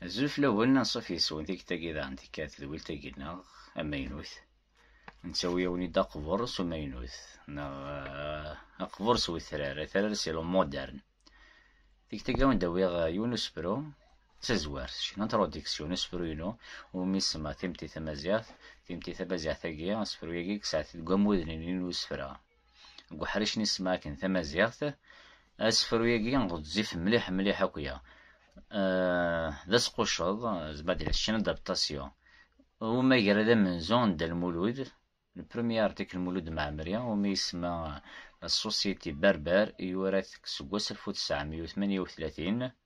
Azul fell-awen, anṣuf yes-wen tikta-agi daɣen tikka tedwilt-agi-nneɣ amaynut. Nettawi-awen-id aqbur s umaynut, neɣ eh, aqbur s wetrar, atrar s ilu modern. Tikta-agi awen d-awiɣ eh, yiwen usebru d tazwart, une introduction, usebru-inu, umi semma timti tamaziɣt, timti tamaziɣt-agi, asebru-agi yesɛa-t deg wamuden-nni n usefra. deg uḥric n ismac n tamaziɣt, asefru-agi ɣezzif mliḥ mliḥ akya. Eh, d asqucceḍ, zbad la ccna d'adaptation. Umi agra d amenzu n Dda Lmulud, le premier article Lmulud Mɛemmri, umi yesma La Société Berbère, yura-t seg wasef u tesɛemya u tmanya u tlatin.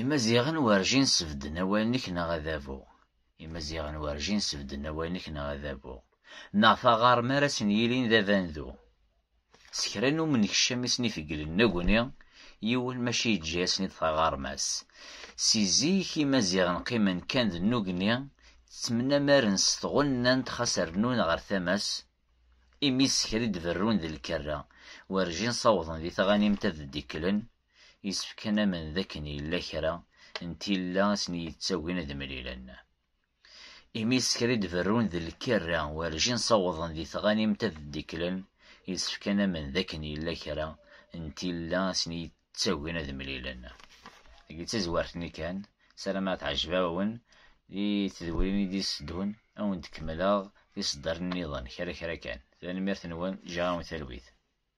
Imaziɣen werjin sebden awal-nnek neɣ adabu. Imaziɣen werjin sebden awal-nnek neɣ adabu. Neɣ taɣarm ara sen-yilin d abandu. S kra n umenkcam i sen-ifeglen negni, yiwen maca yeǧǧa-asen-id taɣarma-s. Si zik Imaziɣen qqimen kan d nugni, ttmnamaren s tɣennant xas rnun ɣer tama-s, imi s kra i d-berrun d lkerra, werjin sawḍen di tɣanimt ad d-ikklen, Yessefk ad namen d akken yella kra n tilla i sen-yettagin ad mlilen. Imi isker i d-berrun d lkirra werjin ssawḍen di tɣanimt ad ddiklen, yessefk ad namen d akken yella kra n tilla i sen-yettagin ad mlilen. Deg d tazwart-nni kan, sarameɣ ad teɛjeb-awen di tedwrin i d-yesseddun, ad wen-d-kemmleɣ tiseddarin-nniḍen kra kra kan. Tanemmirt-nwen, ǧǧiɣ-awen talwit.